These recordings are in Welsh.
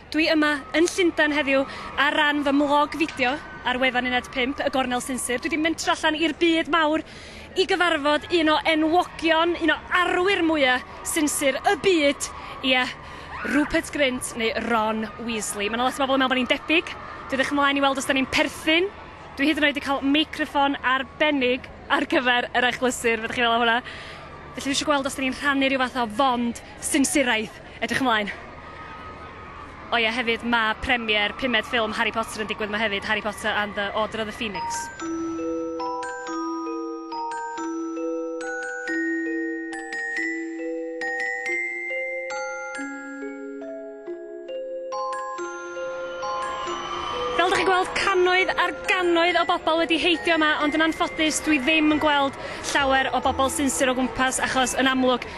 Dwi yma yn Llundain heddiw ar ran fy mlog fideo ar wefan Uned 5, y Gornel Sinsir. Dwi wedi mentro allan i'r byd mawr i gyfarfod un o enwogion, un o arwyr mwya sinsir y byd, ie, Rupert Grint neu Ron Weasley. Mae yna lot o bobl yn meddwl bod ni'n debyg. Dwi edrych ymlaen i weld os da ni'n perthyn. Dwi hyd yn oed wedi cael meicroffon arbennig ar gyfer yr achlysur, fedrwch chi feddwl am hwnna. Felly dwi eisiau gweld os da ni'n rhannu rhyw fath o fond. Sinsiwraeth! Edrych ymlaen! O ie hefyd ma premier pumed ffilm Harry Potter yn digwydd ma hefyd Harry Potter and the order of the phoenix. Fel dych chi'n gweld cannoedd ar gannoedd o bobl wedi heidio yma ond yn anffodus dwi ddim yn gweld llawer o bobl sinsir o gwmpas achos yn amlwg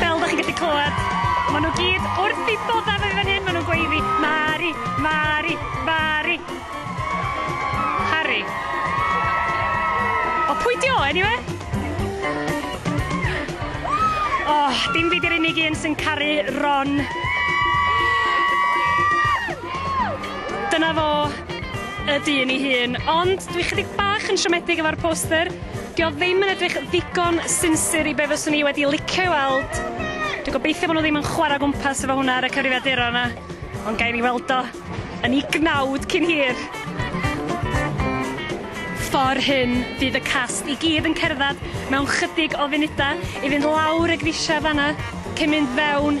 Fel da chi'n gallu clywed, maen nhw gyd wrth i bod efo fi fan hyn, maen nhw'n gweud fi, Mari, Mari, Mari. Harry. O, pwy di o, anyway? O, oh, dim fi di'r unig un sy'n caru Ron. Dyna fo. y dyn ei hun, ond dwi chydig bach yn siomedig efo'r poster. Dio ddim yn edrych ddigon sinsir i be fyswn i wedi licio i weld. Dwi'n gobeithio bod nhw ddim yn chwarae gwmpas efo hwnna ar y cyfrifiaduron yna, ond gael ei weld o yn ei gnawd cyn hir. Ffordd hyn, bydd y cast i gyd yn cerdded mewn chydig o funudau i fynd lawr y grisiau fanna, cyn mynd fewn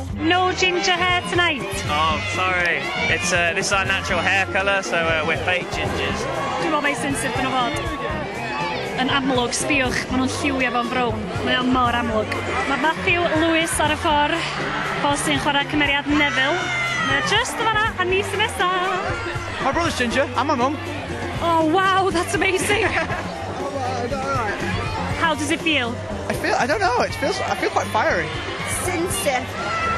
No ginger hair tonight. Oh, sorry. It's uh, this is our natural hair colour, so uh, we're fake gingers. Dwi'n meddwl mai sensitif dyn nhw fod. Yn amlwg, sbiwch, maen nhw'n lliwio fo'n brown. Mae o'n mor amlwg. Mae Matthew Lewis ar y ffordd, fo sy'n chwarae cymeriad Neville. Mae just yn fanna, a ni sy'n nesaf. My brother's ginger, and my mum. Oh, wow, that's amazing. How does it feel? I feel, I don't know, it feels, I feel quite fiery. Sinsir.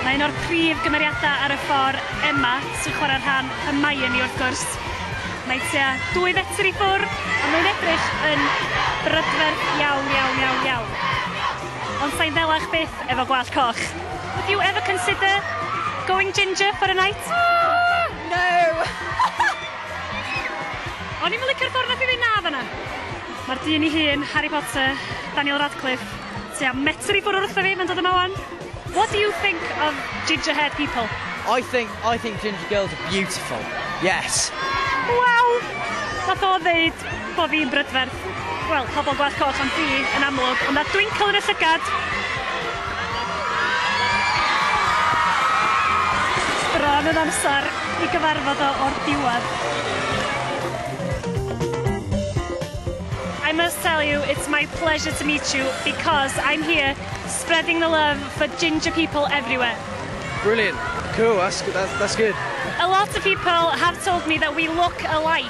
Mae un o'r prif gymeriadau ar y ffordd, Emma, sy'n chwarae rhan Hermione wrth gwrs. Mae tua dwy fetr i ffwrdd, a mae'n edrych yn brydferth iawn, iawn, iawn, iawn. Ond sa'n ddelach byth efo gwallt coch. Would you ever consider going ginger for a night? No! O'n i'm yn licio'r ffordd nath i ddeud 'na' fanna. Ma'r dyn 'i hun, Harry Potter, Daniel Radcliffe, tua metr i ffwr' o wrtho fi, ma'n dod yma 'wan. What do you think of ginger haired people? I think, I think ginger girls are beautiful, yes. Waw! Nath o ddeud bo' fi'n brydferth. Wel, pobl Gwlad Coch am dri yn amlwg, ond na Twinkle yn y llygad! Bron yn amser i gyfarfod o o'r diwedd. I must tell you, it's my pleasure to meet you because I'm here spreading the love for ginger people everywhere. Brilliant. Cool, that's, that's, that's good. A lot of people have told me that we look alike.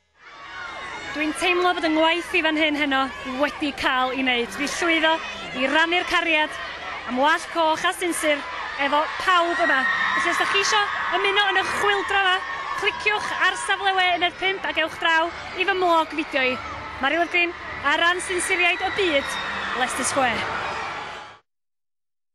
Dwi'n teimlo bod 'y ngwaith i fan hyn heno wedi cael i wneud. Fi llwyddo i rannu'r cariad am wallt coch a sinsir efo pawb yma. Felly os ydych chi isio ymuno yn y chwyldro yma, cliciwch ar safle we uned 5 ac ewch draw i fy mlog fideo i. Mari Lyfgrin ar ran sinsiriaid y byd, Leicester Square.